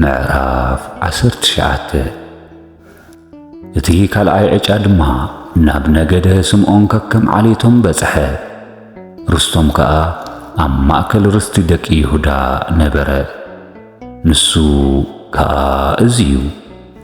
ምዕራፍ ዓሰርተ ትሽዓተ እቲ ካልኣይ ዕጫ ድማ ናብ ነገደ ስምዖን ከከም ዓሌቶም በጽሐ። ርስቶም ከኣ ኣብ ማእከል ርስቲ ደቂ ይሁዳ ነበረ። ንሱ ከኣ እዚ እዩ።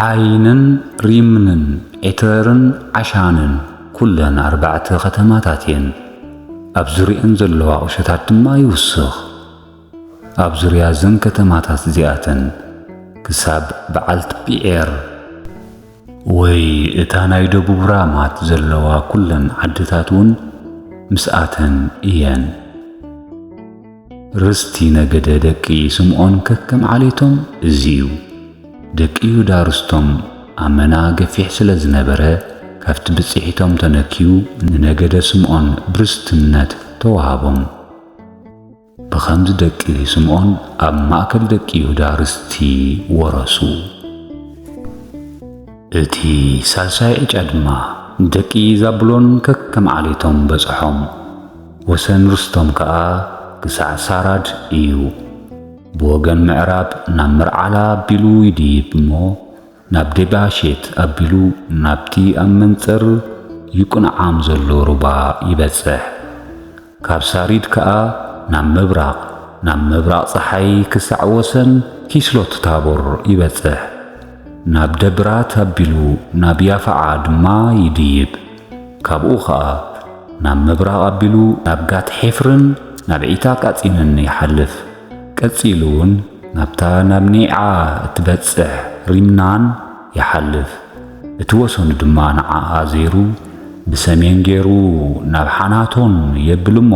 ዓይንን ሪምንን ኤተርን ዓሻንን ኩለን ኣርባዕተ ከተማታት እየን። ኣብ ዙርየን ዘለዋ ቁሸታት ድማ ይውስኽ። ኣብ ዙርያ እዘን ከተማታት እዚኣተን ክሳብ በዓልት ጲዔር ወይ እታ ናይ ደቡብ ራማት ዘለዋ ኩለን ዓድታት እውን ምስኣተን እየን። ርስቲ ነገደ ደቂ ስምዖን ከከም ዓሌቶም እዚ እዩ። ደቂ ይሁዳ ርስቶም ኣመና ገፊሕ ስለ ዝነበረ፣ ካብቲ ብጽሒቶም ተነክዩ ንነገደ ስምዖን ብርስትነት ተዋህቦም። ብኸምዚ ደቂ ስምዖን ኣብ ማእከል ደቂ ይሁዳ ርስቲ ወረሱ። እቲ ሳልሳይ ዕጫ ድማ ደቂ ዛብሎን ከከም ዓሌቶም በጽሖም። ወሰን ርስቶም ከኣ ግሳዕ ሳራድ እዩ። ብወገን ምዕራብ ናብ ምርዓላ ኣቢሉ ይድይብ እሞ፣ ናብ ዴባሼት ኣቢሉ ናብቲ ኣብ መንጽር ዩቅንዓም ዘሎ ሩባ ይበጽሕ። ካብ ሳሪድ ከኣ ናብ ምብራቕ፣ ናብ ምብራቕ ጸሓይ ክሳዕ ወሰን ኪስሎትታቦር ይበጽሕ። ናብ ደብራት ኣቢሉ ናብ ያፍዓ ድማ ይድይብ። ካብኡ ኸኣ ናብ ምብራቕ ኣቢሉ ናብ ጋት-ሔፍርን ናብ ዒታ-ቃጺንን ይሓልፍ፣ ቀጺሉውን ናብታ ናብ ኔዓ እትበጽሕ ሪምናን ይሓልፍ፣ እቲ ወሰኑ ድማ ንዓኣ ዜሩ ብሰሜን ገይሩ ናብ ሓናቶን የብል እሞ፣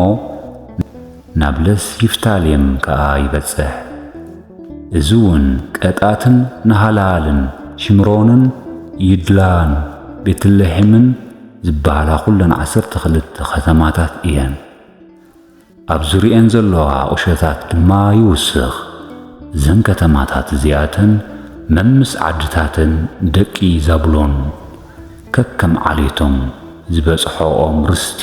ናብ ለስ ይፍታሌም ከኣ ይበጽሕ። እዚውን ቀጣትን ናሃላኣልን ሺምሮንን ይድላን ቤትሌሔምን ዚበሃላ ዅለን ዓሰርተ ክልተ ኸተማታት እየን። ኣብ ዙርየኤን ዘሎዋ ቝሸታት ድማ ይውስኽ። እዘን ከተማታት እዚኣተን መምስ ዓድታተን ደቂ ዛብሎን ከከም ዓሌቶም ዝበጽሖኦም ርስቲ።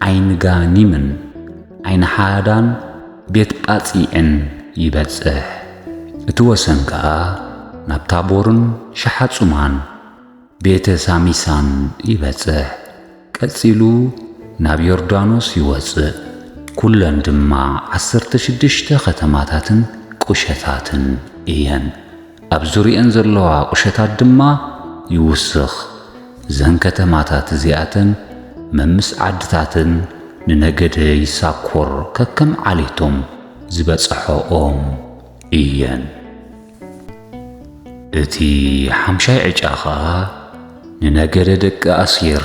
ዓይንጋኒምን ዓይንሓዳን ቤት ጳጺዕን ይበጽሕ። እቲ ወሰን ከኣ ናብ ታቦርን ሸሓጹማን ቤተ ሳሚሳን ይበጽሕ። ቀጺሉ ናብ ዮርዳኖስ ይወጽእ፣ ኵለን ድማ ዓሰርተ ሽዱሽተ ኸተማታትን ቍሸታትን እየን። ኣብ ዙርየኣን ዘለዋ ቁሸታት ድማ ይውስኽ። እዘን ከተማታት እዚኣተን መምስ ዓድታተን ንነገደ ይሳኮር ከከም ዓሌቶም ዝበጸሖኦም እየን። እቲ ሓምሻይ ዕጫ ኸኣ ንነገደ ደቂ ኣሴር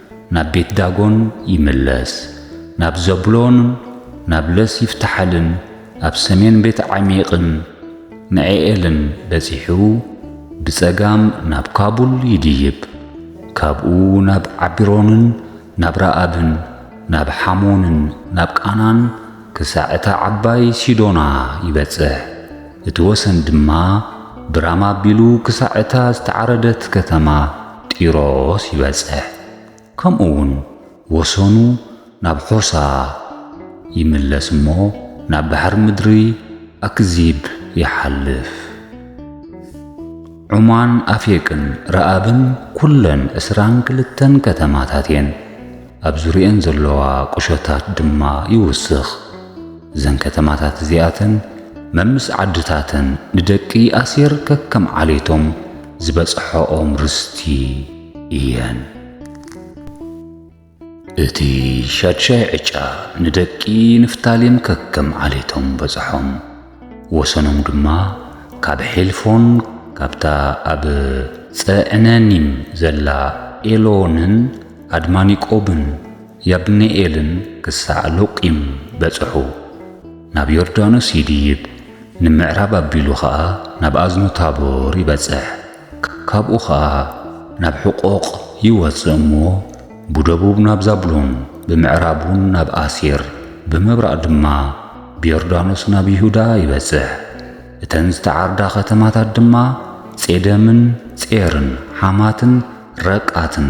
ናብ ቤት ዳጎን ይምለስ፣ ናብ ዘብሎንን ናብ ለስ ይፍታሓልን ኣብ ሰሜን ቤት ዓሚቅን ንዔኤልን በጺሑ ብጸጋም ናብ ካቡል ይድይብ፣ ካብኡ ናብ ዓቢሮንን ናብ ረኣብን ናብ ሓሞንን ናብ ቃናን ክሳዕ እታ ዓባይ ሲዶና ይበጽሕ፣ እቲ ወሰን ድማ ብራማ ኣቢሉ ክሳዕ እታ ዝተዓረደት ከተማ። ጢሮስ ይበጽሕ፣ ከምኡውን ወሰኑ ናብ ሖሳ ይምለስ እሞ ናብ ባሕሪ ምድሪ ኣክዚብ ይሓልፍ። ዑማን ኣፌቅን ረኣብን ኩለን ዕስራን ክልተን ከተማታት እየን፣ ኣብ ዙርየን ዘለዋ ቁሸታት ድማ ይውስኽ። እዘን ከተማታት እዚኣተን መምስ ዓድታተን ንደቂ ኣሴር ከከም ዓሌቶም ዝበጽሖኦም ርስቲ እየን። እቲ ሻድሻይ ዕጫ ንደቂ ንፍታሌም ከከም ዓሌቶም በጽሖም፣ ወሰኖም ድማ ካብ ሔልፎን ካብታ ኣብ ጸዕነኒም ዘላ ኤሎንን ኣድማኒቆብን ያብኒኤልን ክሳዕ ሎቂም በጽሑ። ናብ ዮርዳኖስ ይድይብ፣ ንምዕራብ ኣቢሉ ኸኣ ናብ ኣዝኑ ታቦር ይበጽሕ፣ ካብኡ ኸኣ ናብ ሑቆቕ ይወጽእ እሞ ብደቡብ ናብ ዛብሎን ብምዕራብ እውን ናብ ኣሴር ብምብራቕ ድማ ብዮርዳኖስ ናብ ይሁዳ ይበጽሕ። እተን ዝተዓርዳ ኸተማታት ድማ ጼደምን ጼርን ሓማትን ረቃትን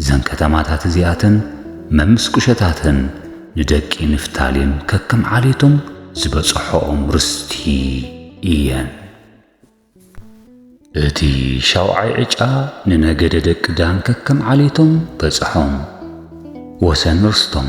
እዘን ከተማታት እዚኣተን መምስ ቁሸታተን ንደቂ ንፍታሌም ከከም ዓሌቶም ዝበጽሖኦም ርስቲ እየን። እቲ ሻውዓይ ዕጫ ንነገደ ደቂ ዳን ከከም ዓሌቶም በጽሖም፣ ወሰን ርስቶም።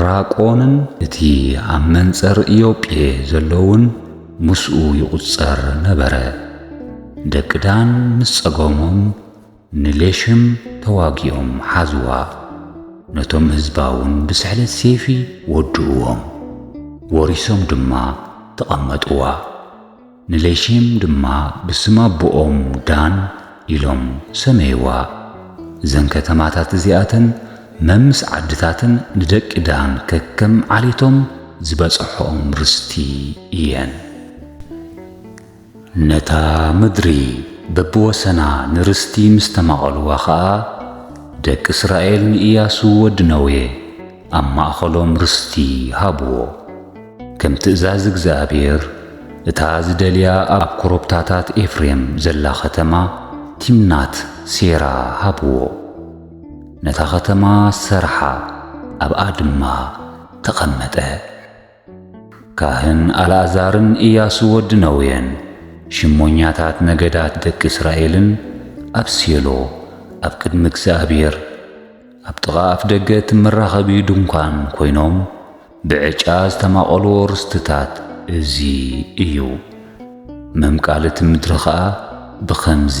ራቆንን እቲ ኣብ መንጸር ኢዮጴ ዘሎውን ምስኡ ይቝጸር ነበረ። ደቂ ዳን ምስ ጸገሞም ንሌሽም ተዋጊኦም ሓዝዋ፣ ነቶም ህዝባውን ብስሕለት ሴፊ ወድእዎም፣ ወሪሶም ድማ ተቐመጥዋ። ንሌሼም ድማ ብስም ኣቦኦም ዳን ኢሎም ሰመይዋ። እዘን ከተማታት እዚኣተን መምስ ዓድታትን ንደቂ ዳን ከከም ዓሌቶም ዝበጸሖኦም ርስቲ እየን። ነታ ምድሪ በብወሰና ንርስቲ ምስ ተማቐልዋ ኸኣ፣ ደቂ እስራኤል ንእያሱ ወዲ ነዌ፣ ኣብ ማእኸሎም ርስቲ ሃብዎ። ከም ትእዛዝ እግዚኣብሄር እታ ዝደልያ ኣብ ኮረብታታት ኤፍሬም ዘላ ኸተማ ቲምናት ሴራ ሃብዎ። ነታ ኸተማ ሰርሓ ኣብኣ ድማ ተቐመጠ። ካህን ኣልኣዛርን እያሱ ወዲ ነዌን ሽሞኛታት ነገዳት ደቂ እስራኤልን ኣብ ሴሎ ኣብ ቅድሚ እግዚኣብሔር ኣብ ጥቓ ኣፍ ደገ እቲ መራኸቢ ድንኳን ኮይኖም ብዕጫ ዝተማቐልዎ ርስትታት እዚ እዩ። መምቃልቲ ምድሪ ኸኣ ብኸምዚ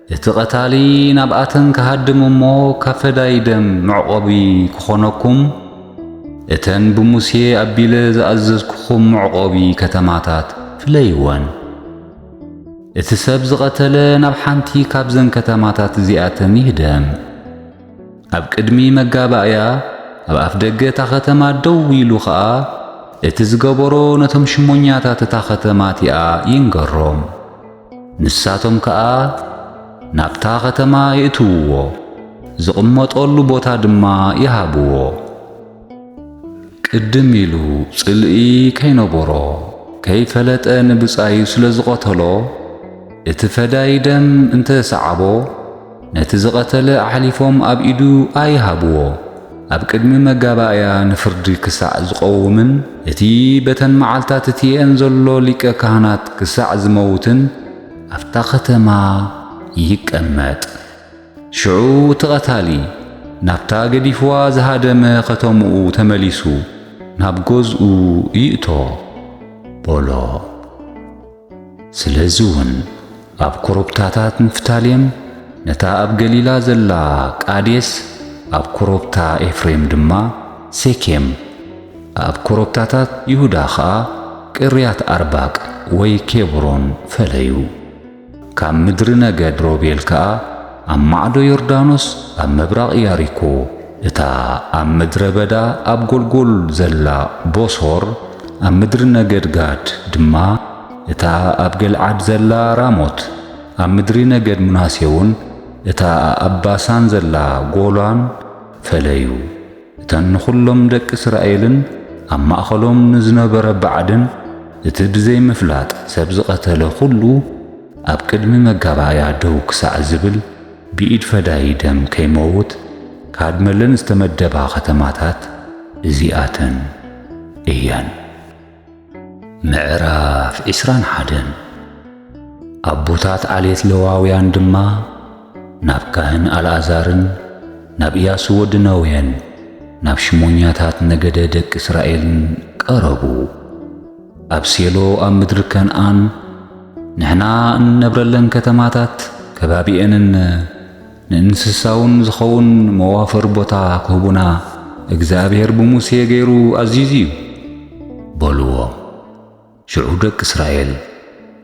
እቲ ቀታሊ ናብኣተን ክሃድም እሞ ካብ ፈዳይ ደም መዕቆቢ ክኾነኩም እተን ብሙሴ ኣቢለ ዝኣዘዝኩኹም መዕቆቢ ከተማታት ፍለይወን። እቲ ሰብ ዝቐተለ ናብ ሓንቲ ካብዘን ከተማታት እዚኣተን ይህደም። ኣብ ቅድሚ መጋባእያ ኣብ ኣፍ ደገ እታ ኸተማ ደው ኢሉ ኸኣ እቲ ዝገበሮ ነቶም ሽሞኛታት እታ ኸተማ እቲኣ ይንገሮም። ንሳቶም ከኣ ናብታ ኸተማ የእትውዎ፣ ዚቕመጠሉ ቦታ ድማ ይሃብዎ። ቅድም ኢሉ ጽልኢ ከይነበሮ ከይፈለጠ ንብጻዩ ስለ ዝቐተሎ፣ እቲ ፈዳዪ ደም እንተ ሰዓቦ፣ ነቲ ዝቐተለ ኣሕሊፎም ኣብ ኢዱ ኣይሃብዎ፣ ኣብ ቅድሚ መጋባእያ ንፍርዲ ክሳዕ ዝቐውምን እቲ በተን መዓልታት እቲኤን ዘሎ ሊቀ ካህናት ክሳዕ ዝመውትን ኣብታ ኸተማ ይቀመጥ። ሽዑ እቲ ቐታሊ ናብታ ገዲፍዋ ዝሃደመ ኸተምኡ ተመሊሱ ናብ ገዝኡ ይእቶ፣ በሎ። ስለዚ ውን ኣብ ኮረብታታት ንፍታሌም፣ ነታ ኣብ ገሊላ ዘላ ቃዴስ፣ ኣብ ኮረብታ ኤፍሬም ድማ ሴኬም፣ ኣብ ኮረብታታት ይሁዳ ኸኣ ቅርያትኣርባቅ ወይ ኬብሮን ፈለዩ። ካብ ምድሪ ነገድ ሮቤል ከኣ፣ ኣብ ማዕዶ ዮርዳኖስ ኣብ ምብራቕ ያሪኮ፣ እታ ኣብ ምድረ በዳ ኣብ ጎልጎል ዘላ ቦሶር፣ ኣብ ምድሪ ነገድ ጋድ ድማ እታ ኣብ ገልዓድ ዘላ ራሞት፣ ኣብ ምድሪ ነገድ ምናሴውን እታ ኣብ ባሳን ዘላ ጎላን ፈለዩ። እተን ንኹሎም ደቂ እስራኤልን ኣብ ማእኸሎም ንዝነበረ ባዕድን እቲ ብዘይ ምፍላጥ ሰብ ዝቐተለ ኹሉ ኣብ ቅድሚ መጋባእያ ደው ክሳዕ ዝብል ብኢድ ፈዳዪ ደም ከይመውት ካድመለን ዝተመደባ ከተማታት እዚኣተን እየን። ምዕራፍ ዕስራን ሓደን ኣቦታት ዓሌት ለዋውያን ድማ ናብ ካህን ኣልኣዛርን ናብ ኢያሱ ወዲ ነውየን ናብ ሽሞኛታት ነገደ ደቂ እስራኤልን ቀረቡ ኣብ ሴሎ ኣብ ምድሪ ከንኣን ንሕና እንነብረለን ከተማታት ከባቢኤንን ንእንስሳውን ዝኸውን መዋፈሪ ቦታ ክህቡና እግዚኣብሔር ብሙሴ ገይሩ ኣዚዙ እዩ። በልዎም። ሽዑ ደቂ እስራኤል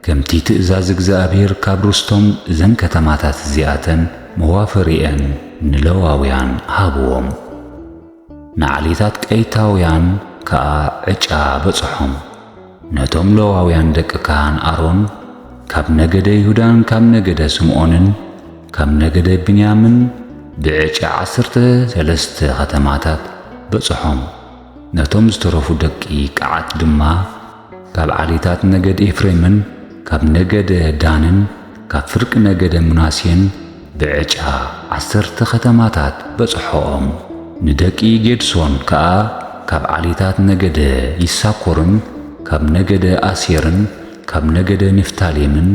ከምቲ ትእዛዝ እግዚኣብሔር ካብ ርስቶም እዘን ከተማታት እዚኣተን መዋፈሪኤን ንለዋውያን ሃብዎም። ንዓሌታት ቀይታውያን ከኣ ዕጫ በጽሖም። ነቶም ለዋውያን ደቂ ካህን ኣሮን፣ ካብ ነገደ ይሁዳን ካብ ነገደ ስምኦንን ካብ ነገደ ብንያምን ብዕጫ ዓሰርተ ሰለስተ ኸተማታት በጽሖም። ነቶም ዝተረፉ ደቂ ቀዓት ድማ፣ ካብ ዓሌታት ነገድ ኤፍሬምን ካብ ነገደ ዳንን ካብ ፍርቂ ነገደ ምናሴን ብዕጫ ዓሰርተ ኸተማታት በጽሖኦም። ንደቂ ጌድሶን ከኣ ካብ ዓሌታት ነገደ ይሳኮርን ካብ ነገደ ኣሴርን ካብ ነገደ ንፍታሌምን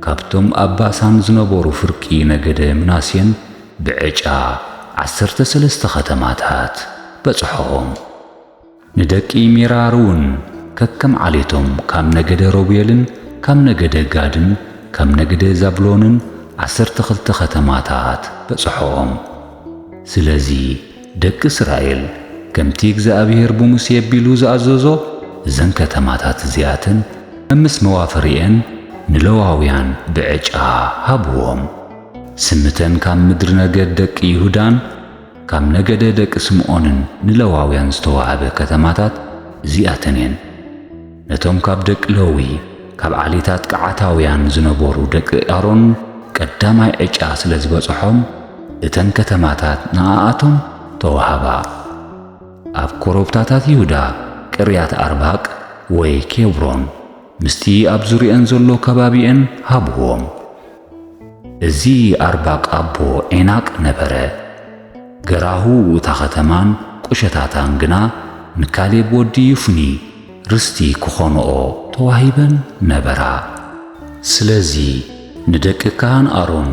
ካብቶም ኣብ ባሳን ዝነበሩ ፍርቂ ነገደ ምናሴን ብዕጫ ዓሰርተ ሰለስተ ኸተማታት በጽሖኦም። ንደቂ ሜራርውን ከከም ዓሌቶም፣ ካብ ነገደ ሮቤልን ካብ ነገደ ጋድን ካብ ነገደ ዛብሎንን ዓሰርተ ኽልተ ኸተማታት በጽሖኦም። ስለዚ፣ ደቂ እስራኤል ከምቲ እግዚኣብሄር ብሙሴ ኣቢሉ ዝኣዘዞ፣ እዘን ከተማታት እዚኣተን መምስ መዋፈሪኤን ንለዋውያን ብዕጫ ሃብዎም። ስም እተን ካብ ምድሪ ነገድ ደቂ ይሁዳን፣ ካብ ነገደ ደቂ ስምኦንን ንለዋውያን ዝተዋህበ ከተማታት እዚኣተን እየን። ነቶም ካብ ደቂ ለዊ፣ ካብ ዓሌታት ቀዓታውያን ዝነበሩ ደቂ ኣሮን ቀዳማይ ዕጫ ስለ ዝበጽሖም፣ እተን ከተማታት ንኣኣቶም ተዋህባ። ኣብ ኮረብታታት ይሁዳ ቅርያት ኣርባቅ ወይ ኬብሮን ምስቲ ኣብ ዙርየኣን ዘሎ ከባቢኤን ሃብዎም። እዚ ኣርባቅ ኣቦ ዔናቅ ነበረ። ገራሁ እታ ኸተማን ቁሸታታን ግና ንካሌብ ወዲ ዪፉኒ ርስቲ ክኾንኦ ተዋሂበን ነበራ። ስለዚ ንደቂ ካህን ኣሮን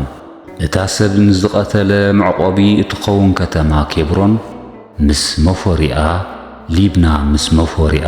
እታ ሰብ ንዝቀተለ መዕቆቢ እትኸውን ከተማ ኬብሮን ምስ መፎሪኣ፣ ሊብና ምስ መፎሪኣ፣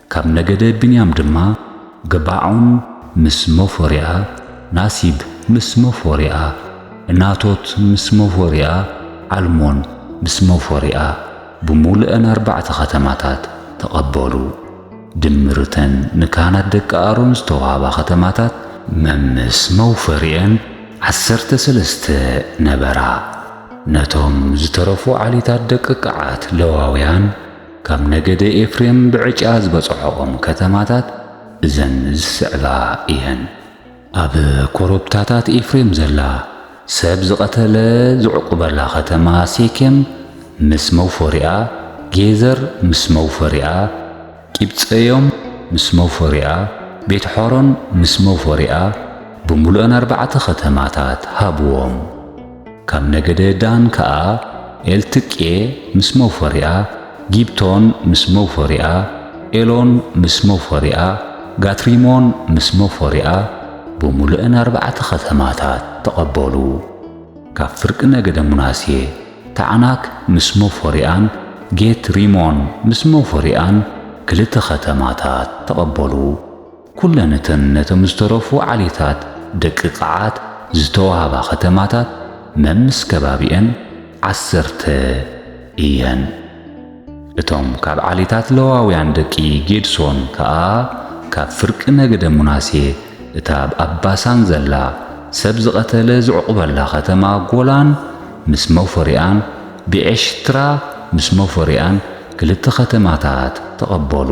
ካብ ነገደ ብንያም ድማ፣ ገባዖን ምስ ሞፎርያ፣ ናሲብ ምስ ሞፎርያ፣ ዕናቶት ምስ ሞፎርያ፣ ዓልሞን ምስ ሞፎርያ፣ ብምሉእን ኣርባዕተ ኸተማታት ተቐበሉ። ድምር እተን ንካህናት ደቂ ኣሮን ዝተዋህባ ኸተማታት መምስ መውፈርየን ዓሰርተ ሰለስተ ነበራ። ነቶም ዝተረፉ ዓሌታት ደቂ ቀዓት፣ ለዋውያን፣ ካብ ነገደ ኤፍሬም ብዕጫ ዝበጽሖኦም ከተማታት እዘን ዝስዕባ እየን። ኣብ ኮረብታታት ኤፍሬም ዘላ፣ ሰብ ዝቐተለ ዝዕቁበላ ኸተማ ሴኬም ምስ መውፈሪኣ፣ ጌዘር ምስ መውፈሪኣ፣ ቂብጸዮም ምስ መውፈሪኣ፣ ቤትሖሮን ምስ መውፈሪኣ፣ ብምሉእን ኣርባዕተ ኸተማታት ሃብዎም። ካብ ነገደ ዳን ከኣ፣ ኤልትቄ ምስ መውፈሪኣ፣ ጊብቶን ምስ መውፈሪኣ፣ ኤሎን ምስ መውፈሪኣ፣ ጋትሪሞን ምስ መውፈሪኣ፣ ብምሉኤን ኣርባዕተ ኸተማታት ተቐበሉ። ካብ ፍርቂ ነገደ ምናሴ፣ ታዕናክ ምስ መውፈሪኣን ጌት-ሪሞን ምስ መውፈሪኣን፣ ክልተ ኸተማታት ተቐበሉ። ኩለን እተን ነቶም ዝተረፉ ዓሌታት ደቂ ቐዓት ዝተዋህባ ከተማታት መምስ ከባቢኤን ዓሰርተ እየን። እቶም ካብ ዓሌታት ለዋውያን ደቂ ጌድሶን ከኣ ካብ ፍርቂ ነገደ ምናሴ እታ ኣብ ባሳን ዘላ ሰብ ዝቐተለ ዝዕቝበላ ከተማ ጎላን ምስ መውፈሪኣን ብዔሽትራ ምስ መውፈሪኣን ክልተ ከተማታት ተቐበሉ።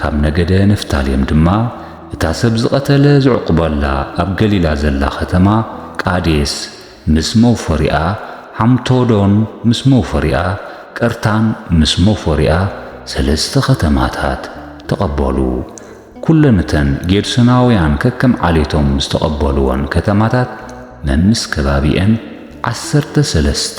ካብ ነገደ ንፍታሌም ድማ እታ ሰብ ዝቐተለ ዝዕቍበላ ኣብ ገሊላ ዘላ ኸተማ ቃዴስ ምስ መውፈሪኣ፣ ሓምቶዶን ምስ መውፈሪኣ፣ ቀርታን ምስ መውፈሪኣ፣ ሰለስተ ኸተማታት ተቐበሉ። ኵለን እተን ጌድሶናውያን ከከም ዓሌቶም ዝተቐበልወን ከተማታት መምስ ከባቢኤን ዓሰርተ ሰለስተ።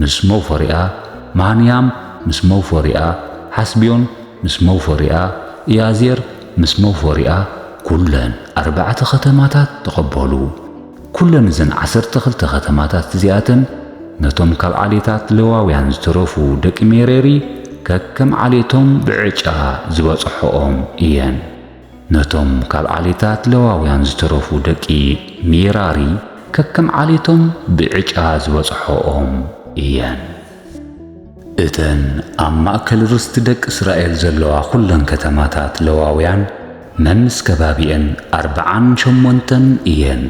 ምስ መውፈሪኣ፣ ማሃንያም ምስ መውፈሪኣ፣ ሓስብዮን ምስ መውፈሪኣ፣ ኢያዜር ምስ መውፈሪኣ፣ ኵለን ኣርባዕተ ኸተማታት ተቐበሉ። ኵለን እዘን ዓሰርተ ኽልተ ኸተማታት እዚኣተን ነቶም ካብ ዓሌታት ሌዋውያን ዝተረፉ ደቂ ሜሬሪ ከከም ዓሌቶም ብዕጫ ዝበጽሕኦም እየን። ነቶም ካብ ዓሌታት ሌዋውያን ዝተረፉ ደቂ ሜራሪ ከከም ዓሌቶም ብዕጫ ዝበጽሖኦም እየን። እተን ኣብ ማእከል ርስቲ ደቂ እስራኤል ዘለዋ ዅለን ከተማታት ሌዋውያን መምስ ከባቢኤን ኣርብዓን ሸሞንተን እየን።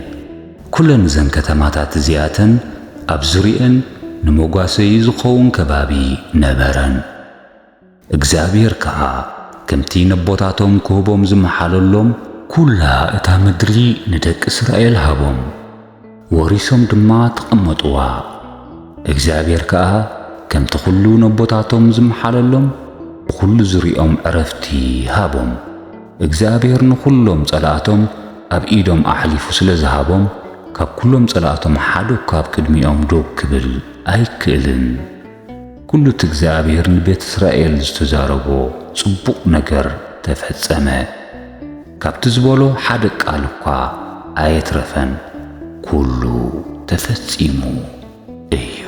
ኵለን እዘን ከተማታት እዚኣተን ኣብ ዙርየኤን ንመጓሰዪ ዚኸውን ከባቢ ነበረን። እግዚኣብሔር ከኣ ከምቲ ነቦታቶም ክህቦም ዝመሓለሎም፣ ኵላ እታ ምድሪ ንደቂ እስራኤል ሃቦም፣ ወሪሶም ድማ ተቐመጥዋ። እግዚኣብሔር ከኣ ከምቲ ዅሉ ነቦታቶም ዝመሓለሎም፣ ብዅሉ ዙርያኦም ዕረፍቲ ሃቦም። እግዚኣብሔር ንዅሎም ጸላእቶም ኣብ ኢዶም ኣሕሊፉ ስለ ዝሃቦም፣ ካብ ኵሎም ጸላእቶም ሓደኳ ኣብ ቅድሚኦም ዶብ ክብል ኣይክእልን። ኵሉ እቲ እግዚኣብሄር ንቤት እስራኤል ዝተዛረቦ ጽቡቕ ነገር ተፈጸመ፣ ካብቲ ዝበሎ ሓደ ቃል እኳ ኣየትረፈን፣ ኵሉ ተፈጺሙ እዩ።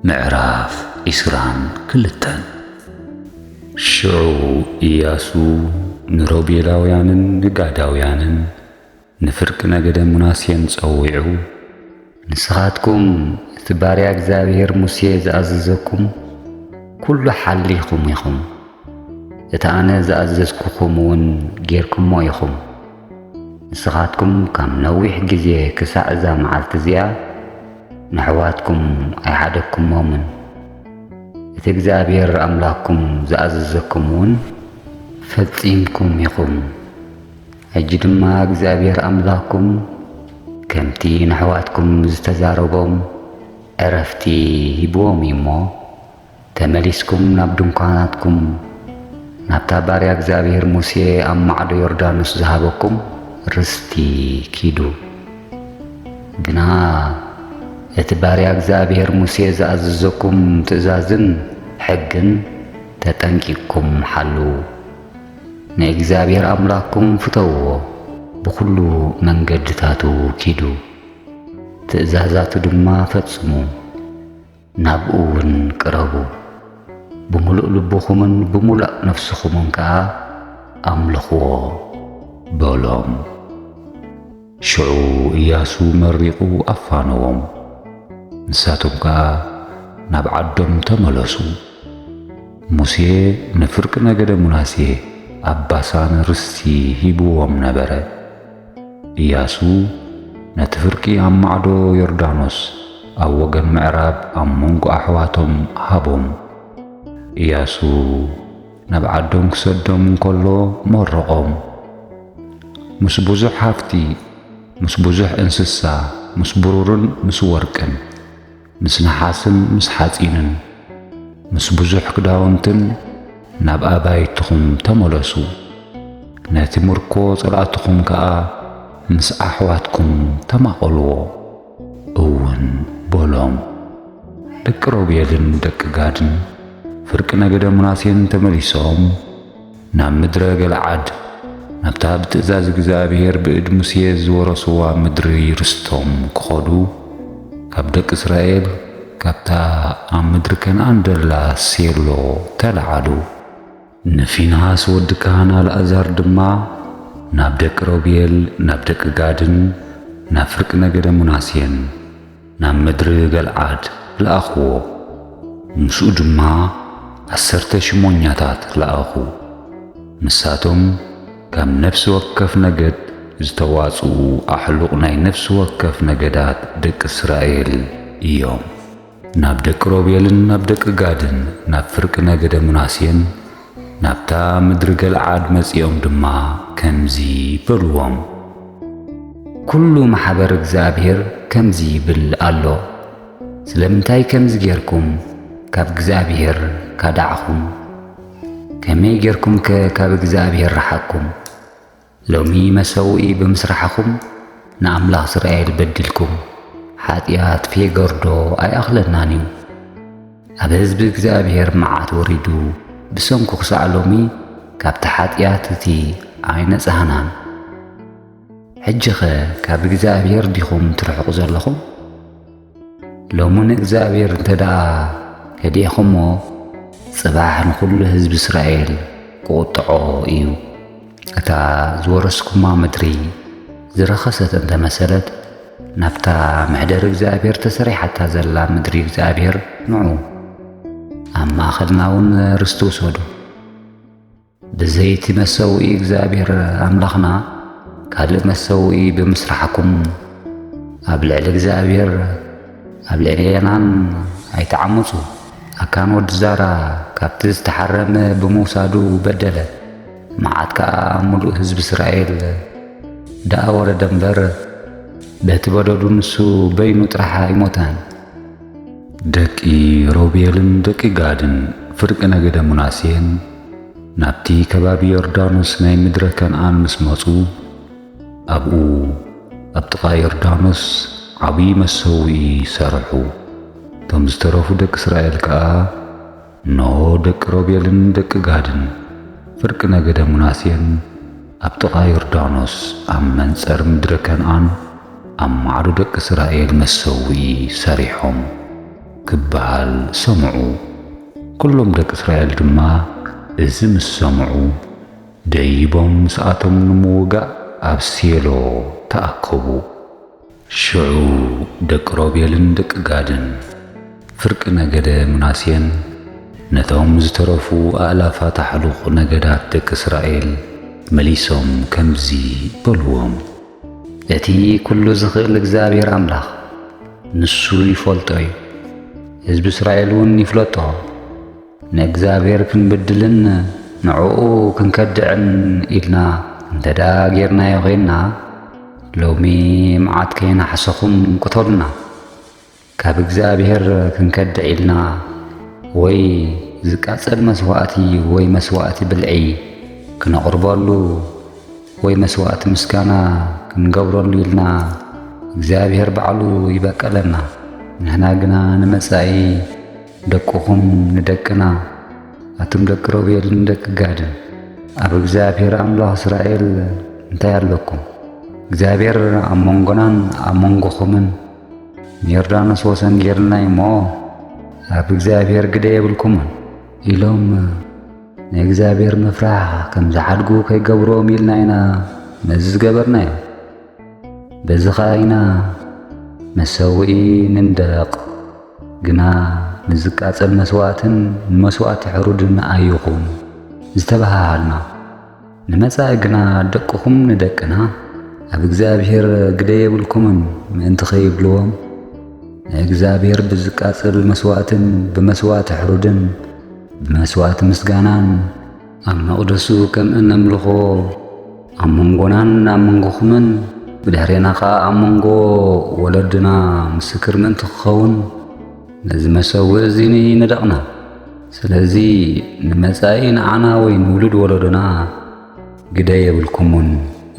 ምዕራፍ ዕስራን ክልተን። ሽዑ እያሱ ንሮቤላውያንን ንጋዳውያንን፣ ንፍርቂ ነገደ ምናሴን ጸዊዑ፣ ንስኻትኩም እቲ ባርያ እግዚኣብሄር ሙሴ ዝኣዘዘኩም ኵሉ ሓሊኹም ኢኹም፣ እቲ ኣነ ዝኣዘዝኩኹም እውን ጌርኩሞ ኢኹም። ንስኻትኩም ካብ ነዊሕ ግዜ ክሳዕ እዛ መዓልቲ እዚኣ ነሕዋትኩም ኣይሓደግኩሞምን፣ እቲ እግዚኣብሄር ኣምላኽኩም ዝኣዘዘኩም እውን ፈጺምኩም ኢኹም። ሕጂ ድማ እግዚኣብሔር ኣምላኩም ከምቲ ነሕዋትኩም ዝተዛረቦም ዕረፍቲ ሂብዎም እዩ እሞ ተመሊስኩም ናብ ድንኳናትኩም ናብታ ባርያ እግዚኣብሔር ሙሴ ኣብ ማዕዶ ዮርዳኖስ ዝሃበኩም ርስቲ ኪዱ ግና እቲ ባርያ እግዚኣብሔር ሙሴ ዝኣዘዘኩም ትእዛዝን ሕግን ተጠንቂቕኩም ሓልዉ። ንእግዚኣብሔር ኣምላኽኩም ፍተውዎ፣ ብዅሉ መንገድታቱ ኪዱ፣ ትእዛዛቱ ድማ ፈጽሙ፣ ናብኡውን ቅረቡ፣ ብምሉእ ልብኹምን ብምሉእ ነፍስኹምን ከኣ ኣምልኽዎ በሎም። ሽዑ እያሱ መሪቑ ኣፋነዎም፣ ንሳቶም ከኣ ናብ ዓዶም ተመለሱ። ሙሴ ንፍርቂ ነገደ ምናሴ ኣብ ባሳን ርስቲ ሂብዎም ነበረ። እያሱ ነቲ ፍርቂ ኣብ ማዕዶ ዮርዳኖስ ኣብ ወገን ምዕራብ ኣብ መንጎ ኣሕዋቶም ሃቦም። እያሱ። ናብ ዓዶም ክሰዶም እንከሎ መረቖም። ምስ ብዙሕ ሃፍቲ፣ ምስ ብዙሕ እንስሳ፣ ምስ ብሩርን ምስ ወርቅን፣ ምስ ነሓስን ምስ ሓጺንን፣ ምስ ብዙሕ ክዳውንትን ናብ ኣባይትኹም ተመለሱ። ነቲ ምርኮ ጸላእትኹም ከኣ ምስ ኣሕዋትኩም ተማቐልዎ። እውን በሎም። ደቂ ሮቤልን ደቂ ጋድን ፍርቂ ነገደ ምናሴን ተመሊሶም ናብ ምድረ ገልዓድ ናብታ ብትእዛዝ እግዚኣብሔር ብእድ ሙሴ ዝወረስዋ ምድሪ ርስቶም ክኸዱ ካብ ደቂ እስራኤል ካብታ ኣብ ምድሪ ከነኣን ደላ ሴሎ ተለዓሉ። ንፊንሃስ ወዲ ካህን ኣልኣዛር ድማ ናብ ደቂ ሮብኤል፣ ናብ ደቂ ጋድን ናብ ፍርቂ ነገደ ምናሴን ናብ ምድሪ ገልዓድ ለኣኽዎ። ምስኡ ድማ ዓሰርተ ሽሞኛታት ለኣኹ፣ ንሳቶም ካብ ነፍሲ ወከፍ ነገድ ዝተዋጽኡ ኣሕሉቕ ናይ ነፍሲ ወከፍ ነገዳት ደቂ እስራኤል እዮም። ናብ ደቂ ሮቤልን ናብ ደቂ ጋድን ናብ ፍርቂ ነገደ ምናሴን ናብታ ምድሪ ገልዓድ መጺኦም ድማ ከምዚ በልዎም፣ ኵሉ ማሕበር እግዚኣብሄር ከምዚ ይብል ኣሎ፣ ስለምንታይ ከምዚ ጌርኩም ካብ እግዚኣብሄር ካዳዕኹም? ከመይ ጌርኩምከ ካብ እግዚኣብሄር ረሓቕኩም? ሎሚ መሰውኢ ብምስራሕኹም ንኣምላኽ እስራኤል በዲልኩም፣ ሓጢኣት ፌገርዶ ኣይኣኽለናን እዩ። ኣብ ህዝቢ እግዚኣብሔር መዓት ወሪዱ ብሰንኩ ክሳዕ ሎሚ ካብቲ ሓጢኣት እቲ ኣይነጻህናን። ሕጂኸ ካብ እግዚኣብሔር ዲኹም ትርሕቑ ዘለኹም? ሎሚ ንእግዚኣብሔር እንተ ደኣ ከዲዕኹሞ ጽባሕ ንዅሉ ህዝቢ እስራኤል ክቝጥዖ እዩ። እታ ዝወረስኩማ ምድሪ ዝረኸሰት እንተ መሰለት ናብታ መሕደሪ እግዚኣብሔር ተሰሪሓታ ዘላ ምድሪ እግዚኣብሔር ንዑ ኣብ ማእኸልና እውን ርስቲ ውሰዱ። ብዘይቲ መሰውኢ እግዚኣብሔር ኣምላኽና ካልእ መሰውኢ ብምስራሕኩም ኣብ ልዕሊ እግዚኣብሔር ኣብ ልዕሊ የናን ኣይተዓምፁ። ኣካን ወዲ ዛራ ካብቲ ዝተሓረመ ብምውሳዱ በደለ፣ መዓት ከዓ ኣብ ምሉእ ህዝቢ እስራኤል ደኣ ወረደ እምበር በቲ በደዱ ንሱ በይኑ ጥራሕ ኣይሞተን። ደቂ ሮቤልን ደቂ ጋድን ፍርቂ ነገደ ሙናሴን ናብቲ ከባቢ ዮርዳኖስ ናይ ምድረ ከነኣን ምስ መጹ ኣብኡ ኣብ ጥቓ ዮርዳኖስ ዓብዪ መሰውኢ ሰርሑ። እቶም ዝተረፉ ደቂ እስራኤል ከኣ እነሆ ደቂ ሮቤልን ደቂ ጋድን ፍርቂ ነገደ ምናሴን ኣብ ጥቓ ዮርዳኖስ ኣብ መንጸር ምድረ ከንኣን ኣብ ማዕዶ ደቂ እስራኤል መሰውኢ ሰሪሖም ክበሃል ሰምዑ። ኩሎም ደቂ እስራኤል ድማ እዚ ምስ ሰምዑ ደይቦም ምስኣቶም ንምውጋእ ኣብ ሴሎ ተኣከቡ። ሽዑ ደቂ ሮቤልን ደቂ ጋድን፣ ፍርቂ ነገደ ምናሴን ነቶም ዝተረፉ ኣእላፋት ኣሕሉኽ ነገዳት ደቂ እስራኤል መሊሶም ከምዚ በልዎም፣ እቲ ኵሉ ዚኽእል እግዚኣብሄር ኣምላኽ፣ ንሱ ይፈልጦ እዩ፣ ህዝቢ እስራኤልውን ይፍለጦ። ንእግዚኣብሔር ክንብድልን ንዕኡ ክንከድዕን ኢልና እንተደኣ ጌርናዮ ዄንና፣ ሎሚ መዓት ከይነሓሰኹም ቅተሉና። ካብ እግዚኣብሔር ክንከድዕ ኢልና ወይ ዝቃጸል መስዋእቲ ወይ መስዋእቲ ብልዒ ክነቕርበሉ ወይ መስዋእቲ ምስጋና ክንገብረሉ ኢልና እግዚኣብሔር ባዕሉ ይበቀለና። ንሕና ግና ንመጻኢ ደቅኹም ንደቅና ኣቱም ደቂ ሮቤልን ደቂ ጋድን ኣብ እግዚኣብሔር ኣምላኽ እስራኤል እንታይ ኣለኩም? እግዚኣብሔር ኣብ መንጎናን ኣብ መንጎኹምን ንዮርዳኖስ ወሰን ጌርልና እሞ ኣብ እግዚኣብሔር ግደ የብልኩምን ኢሎም ናይ እግዚኣብሔር ምፍራሕ ከም ዝሓድጉ ከይገብሮም ኢልና ኢና ነዚ ዝገበርናዮ። በዚ ኸኣ ኢና መሰውኢ ንንደረቕ ግና ንዝቃጸል መስዋእትን ንመስዋእቲ ሕሩድን ኣይኹን ዝተበሃሃልና። ንመጻኢ ግና ደቅኹም ንደቅና ኣብ እግዚኣብሔር ግደ የብልኩምን ምእንቲ ኸይብልዎም ንእግዚኣብሔር ብዝቃጸል መስዋእትን ብመስዋእቲ ሕሩድን ብመስዋእቲ ምስጋናን ኣብ መቕደሱ ከም እነምልኾ ኣብ መንጎናን ኣብ መንጎኹምን ብድሕሬና ኸዓ ኣብ መንጎ ወለድና ምስክር ምእንቲ ክኸውን ነዚ መሰዊ እዚ ንደቕና ስለዚ ንመጻኢ ንዓና ወይ ንውሉድ ወለዶና ግደ የብልኩምን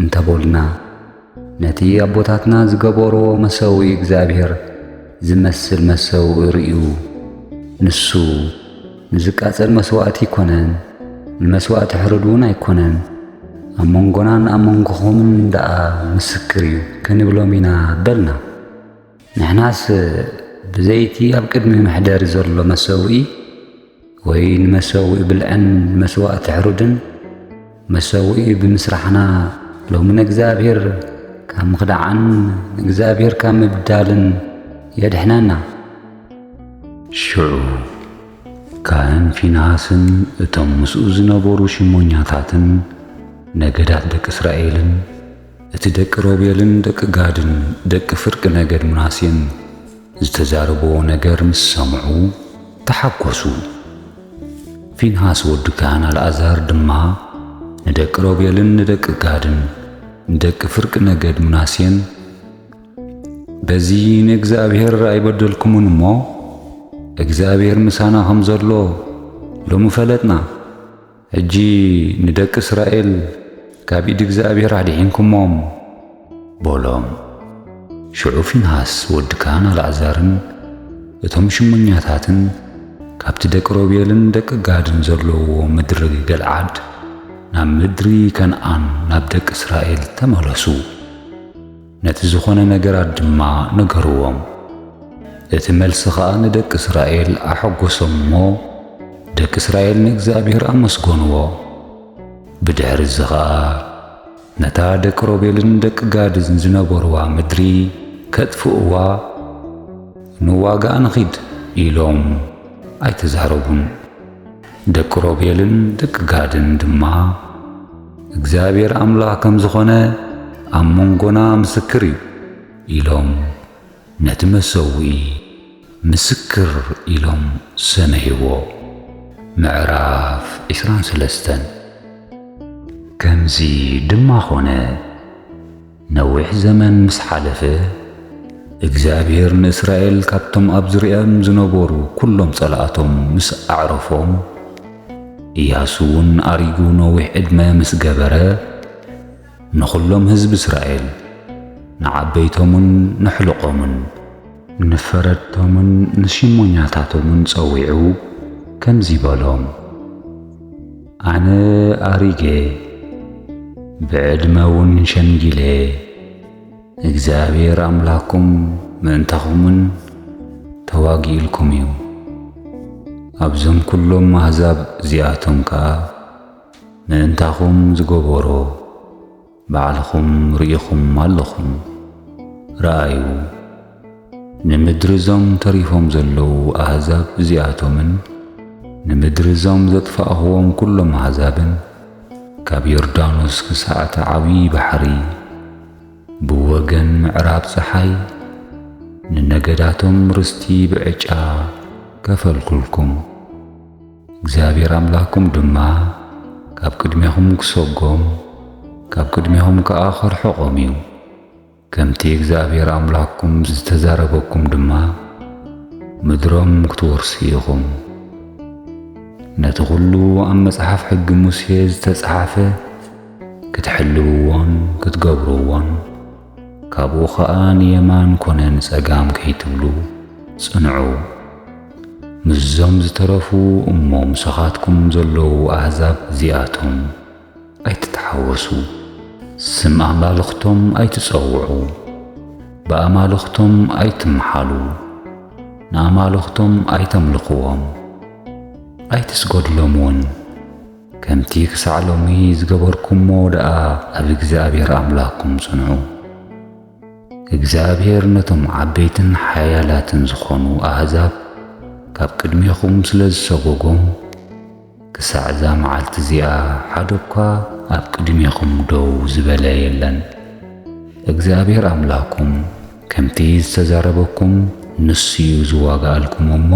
እንተበልና ነቲ ኣቦታትና ዝገበርዎ መሰዊ እግዚኣብሔር ዝመስል መሰዊ ርእዩ ንሱ ንዝቃጸል መሥዋዕቲ ኣይኮነን፣ ንመሥዋዕቲ ሕርድ እውን ኣይኮነን፣ ኣብ መንጎናን ኣብ መንጎኹምን ደኣ ምስክር እዩ ክንብሎም ኢና በልና። ንሕናስ ብዘይቲ ኣብ ቅድሚ መሕደሪ ዘሎ መሰውኢ ወይ ንመሰውኢ ብልዕን መስዋእቲ ሕሩድን መሰውኢ ብምስራሕና ሎሚ ንእግዚኣብሔር ካብ ምኽዳዓን ንእግዚኣብሔር ካብ ምብዳልን የድሕነና። ሽዑ ካህን ፊንሃስን እቶም ምስኡ ዝነበሩ ሽሞኛታትን ነገዳት ደቂ እስራኤልን እቲ ደቂ ሮቤልን ደቂ ጋድን ደቂ ፍርቂ ነገድ ምናሴን ዝተዛረብዎ ነገር ምስ ሰምዑ ተሓጐሱ። ፊንሃስ ወዲ ካህን ኣልኣዛር ድማ ንደቂ ሮቤልን ንደቂ ጋድን ንደቂ ፍርቂ ነገድ ምናሴን በዚ ንእግዚኣብሔር ኣይበደልኩምን እሞ እግዚኣብሔር ምሳና ኸም ዘሎ ሎሚ ፈለጥና። ሕጂ ንደቂ እስራኤል ካብ ኢድ እግዚኣብሄር ኣድሒንኩሞም፣ በሎም። ሽዑ ፊንሃስ ወዲ ካህን ኣልኣዛርን እቶም ሽሞኛታትን ካብቲ ደቂ ሮቤልን ደቂ ጋድን ዘለውዎ ምድሪ ገልዓድ ናብ ምድሪ ከንኣን ናብ ደቂ እስራኤል ተመለሱ። ነቲ ዝኾነ ነገራት ድማ ነገርዎም። እቲ መልሲ ኸኣ ንደቂ እስራኤል ኣሐጐሶም እሞ፣ ደቂ እስራኤል ንእግዚኣብሄር ኣመስገንዎ። ብድሕርዚ ኸኣ ነታ ደቂ ሮቤልን ደቂ ጋድን ዝነበርዋ ምድሪ ኬጥፍእዋ ንዋጋኣ ንኺድ ኢሎም ኣይተዛረቡን። ደቂ ሮቤልን ደቂ ጋድን ድማ፣ እግዚኣብሄር ኣምላኽ ከም ዝዀነ ኣብ መንጎና ምስክር እዩ ኢሎም ነቲ መሰውኢ ምስክር ኢሎም ሰመይዎ። ምዕራፍ ዒስራን ሰለስተን ከምዚ ድማ ዀነ። ነዊሕ ዘመን ምስ ሓለፈ፣ እግዚኣብሄር ንእስራኤል ካብቶም ኣብ ዙርያኦም ዝነበሩ ኵሎም ጸላእቶም ምስ ኣዕረፎም፣ እያሱውን ኣሪጉ ነዊሕ ዕድመ ምስ ገበረ፣ ንዅሎም ህዝቢ እስራኤል፣ ንዓበይቶምን ነሕሉቖምን፣ ንፈረድቶምን ንሽሞኛታቶምን ጸዊዑ ከምዚ በሎም፣ ኣነ ኣሪገ፣ ብዕድመ እውን ሸምጊለ፣ እግዚኣብሔር ኣምላኩም ምእንታኹምን ተዋጊኡልኩም እዩ፣ ኣብዞም ኩሎም ኣህዛብ እዚኣቶም ከኣ ምእንታኹም ዝገበሮ፣ ባዕልኹም ርኢኹም ኣለኹም። ርኣዩ፣ ንምድሪ እዞም ተሪፎም ዘለዉ ኣህዛብ እዚኣቶምን ንምድሪ እዞም ዘጥፋእኽዎም ኵሎም ኣህዛብን፣ ካብ ዮርዳኖስ ክሳዕ እቲ ዓብዪ ባሕሪ፣ ብወገን ምዕራብ ጸሓይ፣ ንነገዳቶም ርስቲ ብዕጫ ከፈልኩልኩም። እግዚኣብሔር ኣምላኽኩም ድማ ካብ ቅድሜኹም ክሰጎም ካብ ቅድሜኹም ከኣ ኸርሕቖም እዩ። ከምቲ እግዚኣብሔር ኣምላኽኩም ዝተዛረበኩም ድማ ምድሮም ክትወርሱ ኢኹም። ነቲ ዅሉ ኣብ መጽሓፍ ሕጊ ሙሴ ዝተጸሓፈ ክትሕልውዎን ክትገብርዎን ካብኡ ኸኣ ንየማን ኮነ ንጸጋም ከይትብሉ ጽንዑ። ምስዞም ዝተረፉ እሞ ምሳኻትኩም ዘለዉ ኣህዛብ እዚኣቶም ኣይትተሓወሱ። ስም ኣማልኽቶም ኣይትጸውዑ፣ ብኣማልኽቶም ኣይትመሓሉ፣ ንኣማልኽቶም ኣይተምልኽዎም፣ ኣይትስገዱሎምውን። ከምቲ ክሳዕ ሎሚ ዝገበርኩሞ ደኣ ኣብ እግዚኣብሔር ኣምላኽኩም ጽንዑ። እግዚኣብሔር ነቶም ዓበይትን ሓያላትን ዝኾኑ ኣሕዛብ ካብ ቅድሜኹም ስለ ዝሰጎጎም፣ ክሳዕ እዛ መዓልቲ እዚኣ ሓደ እኳ ኣብ ቅድሜኹም ደው ዝበለ የለን። እግዚኣብሔር ኣምላኽኩም ከምቲ ዝተዛረበኩም ንሱ'ዩ ዝዋጋኣልኩም እሞ፣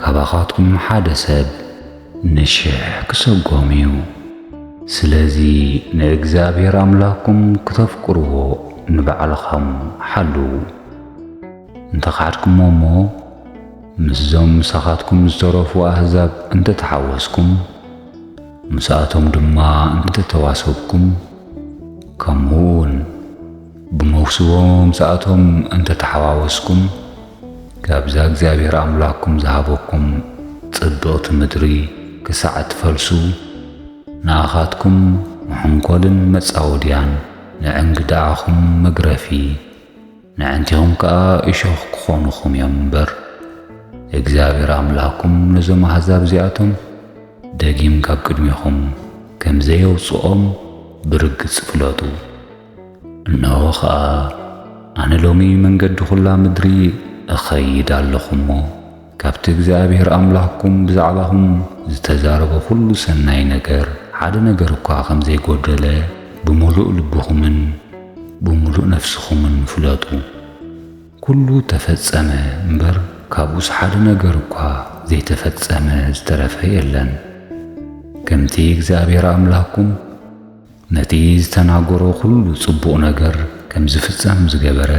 ካባኻትኩም ሓደ ሰብ ንሽሕ ክሰጎም እዩ። ስለዚ ንእግዚኣብሔር ኣምላክኩም ክተፍቅርዎ ንባዕልኻም ሓልዉ። እንተ ኻድክሞ እሞ ምስዞም ምሳኻትኩም ዝተረፉ ኣህዛብ እንተ ተሓወስኩም፣ ምስኣቶም ድማ እንተ ተዋሰብኩም፣ ከምኡ እውን፣ ብመውስቦ ምምጻእቶም እንተ ተሓዋወስኩም፣ ካብዛ እግዚኣብሄር ኣምላኽኩም ዝሃበኩም ጽብቕቲ ምድሪ ክሳዕ እትፈልሱ፣ ንኣኻትኩም መሐንኰልን መጻወድያን፣ ንእንግድዓኹም መግረፊ፣ ነዕንቲኹም ከኣ እሾኽ ክዀኑኹም እዮም እምበር፣ እግዚኣብሄር ኣምላኽኩም ነዞም ኣህዛብ እዚኣቶም ደጊም ካብ ቅድሜኹም ከም ዘየውጽኦም ብርግጽ ፍለጡ። እነሆ ኸኣ ኣነ ሎሚ መንገዲ ዅላ ምድሪ እኸይድ ኣለኹ እሞ፣ ካብቲ እግዚኣብሄር ኣምላኽኩም ብዛዕባኹም ዝተዛረቦ ዅሉ ሰናይ ነገር፣ ሓደ ነገር እኳ ኸም ዘይጐደለ ብምሉእ ልብኹምን ብምሉእ ነፍስኹምን ፍለጡ። ኵሉ እተፈጸመ እምበር፣ ካብኡስ ሓደ ነገር እኳ ዘይተፈጸመ ዝተረፈ የለን። ከምቲ እግዚኣብሄር ኣምላኽኩም፣ ነቲ ዝተናገሮ ዅሉ ጽቡቕ ነገር ከም ዚፍጸም ዝገበረ፣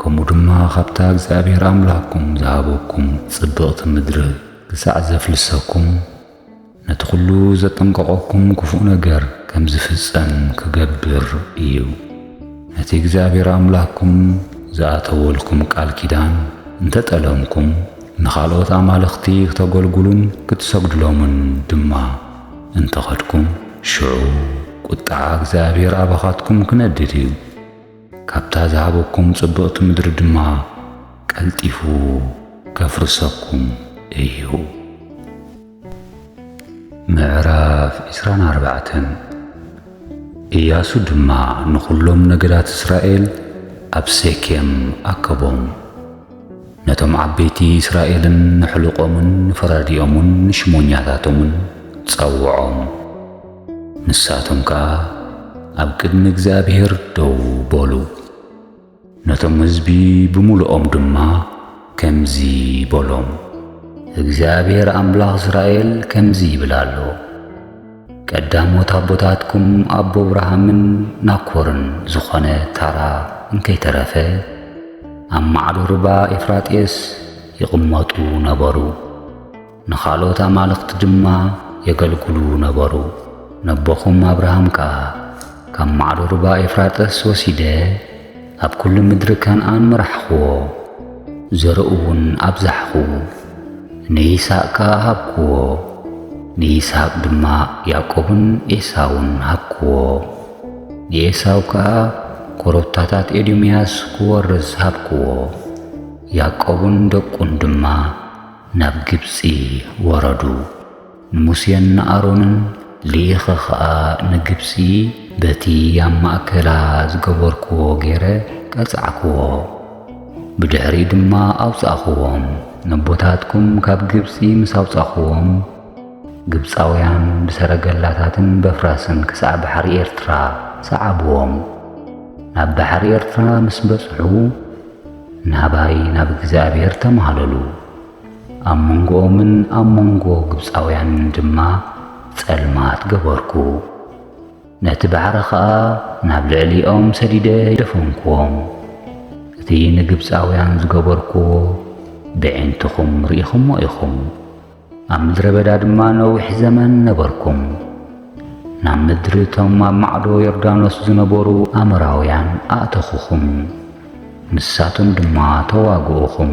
ከምኡ ድማ ኻብታ እግዚኣብሄር ኣምላኽኩም ዝሃበኩም ጽብቕቲ ምድሪ ኽሳዕ ዜፍልሰኩም፣ ነቲ ዅሉ ዘጠንቀቐኩም ክፉእ ነገር ከም ዚፍጸም ኪገብር እዩ። ነቲ እግዚኣብሄር ኣምላኽኩም ዝኣተወልኩም ቃል ኪዳን እንተ ጠለምኩም፣ ንኻልኦት ኣማልኽቲ ኽተገልግሉን ክትሰግዱሎምን ድማ፣ እንተ ኸድኩም፣ ሽዑ ቍጥዓ እግዚኣብሄር ኣባኻትኩም ኪነድድ እዩ፣ ካብታ ዝሃበኩም ጽብቕቲ ምድሪ ድማ ቀልጢፉ ኬፍርሰኩም እዩ። ምዕራፍ ዕስራን ኣርባዕተን እያሱ ድማ ንዅሎም ነገዳት እስራኤል ኣብ ሴኬም ኣከቦም። ነቶም ዓበይቲ እስራኤልን ንሕሉቆምን ንፈራዲኦምን ንሽሞኛታቶምን ጸውዖም። ንሳቶም ከኣ ኣብ ቅድሚ እግዚኣብሔር ደው በሉ። ነቶም ሕዝቢ ብምሉኦም ድማ ከምዚ በሎም፣ እግዚኣብሔር ኣምላኽ እስራኤል ከምዚ ይብል ኣሎ፣ ቀዳሞት ኣቦታትኩም ኣቦ ኣብርሃምን ናኮርን ዝኾነ ታራ እንከይተረፈ ኣብ ማዕዶ ርባ ኤፍራጥየስ ይቕመጡ ነበሩ። ንኻልኦት ኣማልኽቲ ድማ የገልግሉ ነበሩ። ነቦኹም ኣብርሃም ከኣ ካብ ማዕዶ ርባ ኤፍራጥስ ወሲደ ኣብ ኵሉ ምድሪ ከንኣን መራሕክዎ፣ ዘርኡውን ኣብዛሕኩ። ንይስሃቅ ከኣ ሃብክዎ፣ ንይስሃቅ ድማ ያእቆብን ኤሳውን ሃብክዎ። ንኤሳው ከኣ ኰረብታታት ኤዶምያስ ክወርስ ሃብክዎ፣ ያእቆብን ደቁን ድማ ናብ ግብጺ ወረዱ። ንሙሴን ንኣሮንን ልኢኸ ኸኣ ንግብጺ በቲ ኣብ ማእከላ ዝገበርክዎ ገይረ ቀጻዕክዎ። ብድሕሪኡ ድማ ኣውጻእኽዎም። ነቦታትኩም ካብ ግብጺ ምስ ኣውጻእኽዎም፣ ግብጻውያን ብሰረገላታትን በፍራስን ክሳዕ ባሕሪ ኤርትራ ሰዓብዎም። ናብ ባሕሪ ኤርትራ ምስ በጽሑ፣ ናባይ ናብ እግዚኣብሄር ተማህለሉ። ኣብ መንጎኦምን ኣብ መንጎ ግብጻውያንን ድማ ጸልማት ገበርኩ፣ ነቲ ባሕሪ ኸኣ ናብ ልዕሊኦም ሰዲደ ደፈንክዎም። እቲ ንግብጻውያን ዝገበርክዎ በዒንትኹም ርኢኹሞ ኢኹም። ኣብ ምድረ በዳ ድማ ነዊሕ ዘመን ነበርኩም። ናብ ምድሪ እቶም ኣብ ማዕዶ ዮርዳኖስ ዝነበሩ ኣምራውያን ኣእተኹኹም፣ ንሳቶም ድማ ተዋግኡኹም።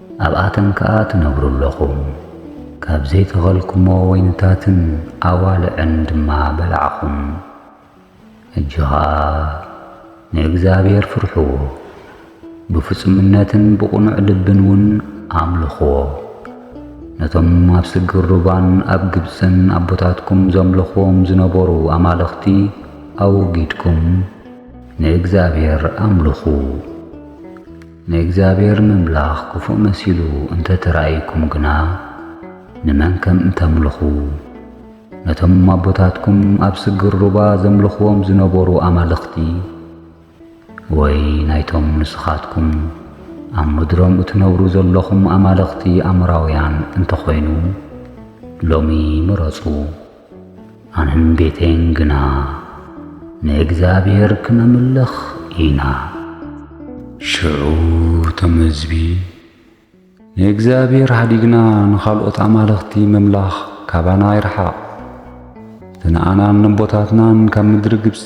ኣብኣተን ከኣ ትነብሩ ኣሎኹም። ካብ ዘይተኸልኩሞ ወይንታትን ኣዋልዕን ድማ በላዕኹም። ሕጂ ኸኣ ንእግዚኣብሄር ፍርሕዎ፣ ብፍጹምነትን ብቕኑዕ ልብን ውን ኣምልኽዎ። ነቶም ኣብ ስግር ሩባን ኣብ ግብጽን ኣቦታትኩም ዘምልኽዎም ዝነበሩ ኣማልኽቲ ኣወጊድኩም ንእግዚኣብሄር ኣምልኹ። ንእግዚኣብሔር ምምላኽ ክፉእ መሲሉ እንተ ተራእዩኩም ግና፣ ንመን ከም እተምልኹ፣ ነቶም ኣቦታትኩም ኣብ ስግር ሩባ ዘምልኽዎም ዝነበሩ ኣማልኽቲ፣ ወይ ናይቶም ንስኻትኩም ኣብ ምድሮም እትነብሩ ዘሎኹም ኣማልኽቲ ኣሞራውያን እንተ ኾይኑ፣ ሎሚ ምረጹ። ኣነን ቤተይን ግና ንእግዚኣብሔር ክነምልኽ ኢና። ሽዑ እቶም ህዝቢ፣ ንእግዚኣብሔር ኃዲግና ንኻልኦት ኣማልኽቲ ምምላኽ ካባና ይርሓቕ፣ እቲ ንኣናን ነቦታትናን ካብ ምድሪ ግብጺ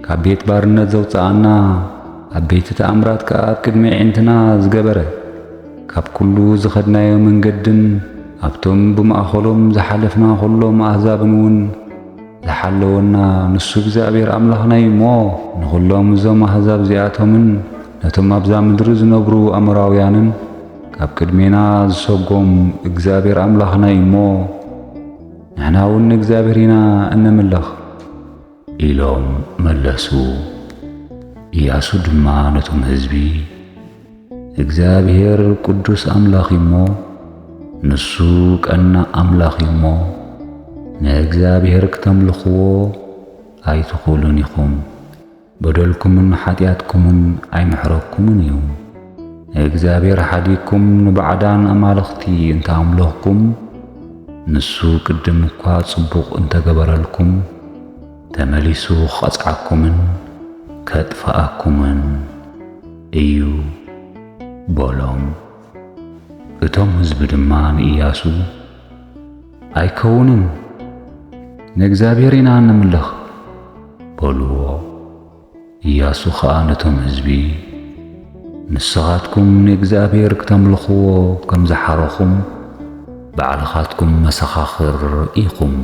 ካብ ቤት ባርነት ዘውጽኣና፣ ዓበይቲ ተኣምራት ከኣ ኣብ ቅድሚ ኣዒንትና ዝገበረ፣ ካብ ኵሉ ዝኸድናዮ መንገድን፣ ኣብቶም ብማእከሎም ዝሓለፍና ዅሎም ኣህዛብንውን ዝሓለወና ንሱ እግዚኣብሄር ኣምላኽና እዩ እሞ፣ ንዅሎም እዞም ኣህዛብ እዚኣቶምን ነቶም ኣብዛ ምድሪ ዝነብሩ ኣሞራውያንን ካብ ቅድሜና ዝሰጐም እግዚኣብሄር ኣምላኽና እዩ እሞ፣ ንሕናውን ንእግዚኣብሄር ኢና እነምልኽ። ኢሎም መለሱ። እያሱ ድማ ነቶም ህዝቢ እግዚኣብሔር ቅዱስ ኣምላኽ እዩ እሞ ንሱ ቀናእ ኣምላኽ እዩ እሞ ንእግዚኣብሔር ክተምልኽዎ ኣይትኽእሉን ኢኹም፣ በደልኩምን ኃጢኣትኩምን ኣይምሕረኩምን እዩ። ንእግዚኣብሔር ሓዲግኩም ንባዕዳን ኣማልኽቲ እንተ ኣምለኽኩም፣ ንሱ ቅድም እኳ ጽቡቕ እንተ ገበረልኩም፣ ተመሊሱ ኺቐጽዓኩምን ኬጥፍኣኩምን እዩ፣ በሎም። እቶም ህዝቢ ድማ ንእያሱ፣ ኣይከውንን፣ ንእግዚኣብሔር ኢና እነምልኽ፣ በልዎ። እያሱ ኸኣ ነቶም ህዝቢ፣ ንስኻትኩም ንእግዚኣብሄር ክተምልኽዎ ኸም ዝሓረኹም፣ ባዕልኻትኩም መሰኻኽር ኢኹም፣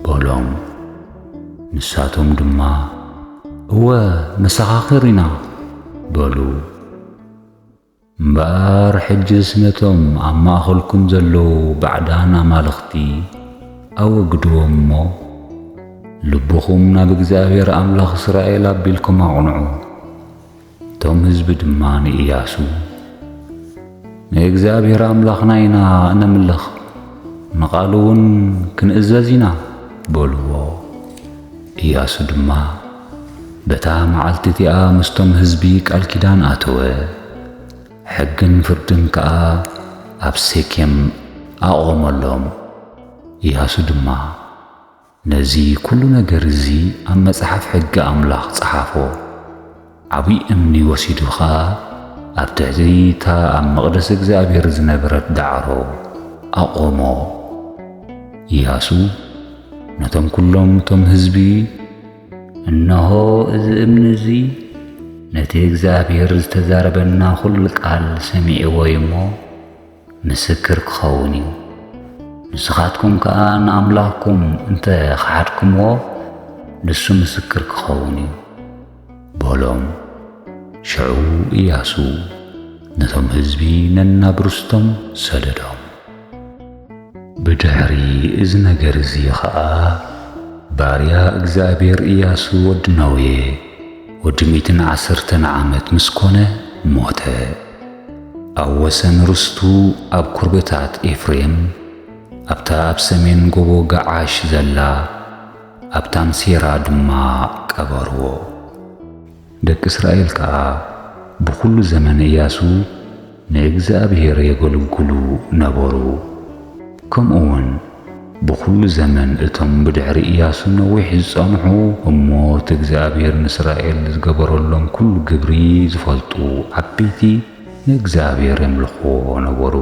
በሎም። ንሳቶም ድማ፣ እወ መሰኻኽር ኢና፣ በሉ። እምበኣር ሕጅስ ነቶም ኣብ ማእኸልኩም ዘለዉ ባዕዳን ኣማልኽቲ ኣወግድዎም እሞ፣ ልብኹም ናብ እግዚኣብሄር ኣምላኽ እስራኤል ኣቢልኩም ኣቕንዑ። እቶም ህዝቢ ድማ ንእያሱ፣ ንእግዚኣብሄር ኣምላኽና ኢና እነምልኽ፣ ንቓሉውን ክንእዘዝ ኢና፣ በልዎ። እያሱ ድማ፣ በታ መዓልቲ እቲኣ ምስቶም ህዝቢ ቃል ኪዳን ኣተወ፣ ሕግን ፍርድን ከኣ ኣብ ሴኬም ኣቖመሎም። እያሱ ድማ ነዚ ኵሉ ነገር እዚ ኣብ መጽሓፍ ሕጊ ኣምላኽ ጸሓፎ። ዓብዪ እምኒ ወሲዱ ኸኣ ኣብ ትሕቲ እታ ኣብ መቕደስ እግዚኣብሄር ዝነበረት ዳዕሮ ኣቖሞ። እያሱ ነቶም ኵሎም እቶም ህዝቢ፣ እነሆ እዚ እምኒ እዚ ነቲ እግዚኣብሔር ዝተዛረበና ዅሉ ቃል ሰሚዕዎ እዩ እሞ ምስክር ክኸውን እዩ። ንስኻትኩም ከዓ ንኣምላኽኩም እንተ ኸሓድኩምዎ ንሱ ምስክር ክኸውን እዩ በሎም። ሽዑ ኢያሱ ነቶም ህዝቢ ነናብ ርስቶም ሰደዶም። ብድሕሪ እዚ ነገር እዚ ኸኣ ባርያ እግዚኣብሔር እያሱ ወዲ ነዌ ወዲ ሚእትን ዓሰርተን ዓመት ምስ ኮነ ሞተ። ኣብ ወሰን ርስቱ ኣብ ኩርብታት ኤፍሬም ኣብታ ኣብ ሰሜን ጎቦ ገዓሽ ዘላ ኣብ ታምሴራ ድማ ቀበርዎ። ደቂ እስራኤል ከኣ ብዅሉ ዘመን እያሱ ንእግዚኣብሄር የገልግሉ ነበሩ። ከምኡውን ብዅሉ ዘመን እቶም ብድሕሪ እያሱ ነዊሕ ዝጸንሑ እሞ እቲ እግዚኣብሄር ንእስራኤል ዝገበረሎም ኵሉ ግብሪ ዝፈልጡ ዓበይቲ ንእግዚኣብሄር የምልኽዎ ነበሩ።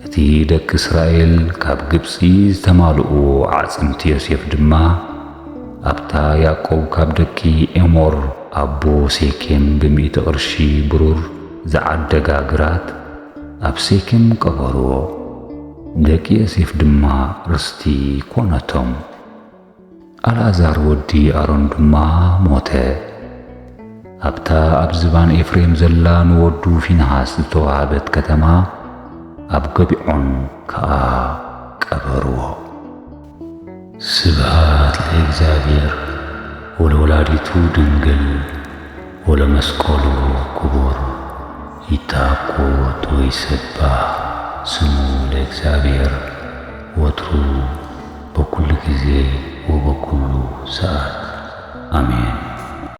እቲ ደቂ እስራኤል ካብ ግብጺ ዝተማልኡ ኣዕጽምቲ ዮሴፍ ድማ፣ ኣብታ ያእቆብ ካብ ደቂ ኤሞር ኣቦ ሴኬም ብሚእቲ ቅርሺ ብሩር ዝዓደጋ ግራት፣ ኣብ ሴኬም ቀበርዎ። ንደቂ ዮሴፍ ድማ ርስቲ ኰነቶም። ኣልኣዛር ወዲ ኣሮን ድማ ሞተ። ኣብታ ኣብ ዝባን ኤፍሬም ዘላ ንወዱ ፊንሃስ ዝተዋህበት ከተማ ኣብ ገቢዖን ከኣ ቀበርዎ። ስብሃት ለእግዚኣብሔር ወለወላዲቱ ድንግል ወለመስቀሉ ክቡር ይተአኮት ወይሰባህ ስሙ ለእግዚኣብሔር ወትሩ በኩሉ ጊዜ ወበኩሉ ሰኣት ኣሜን።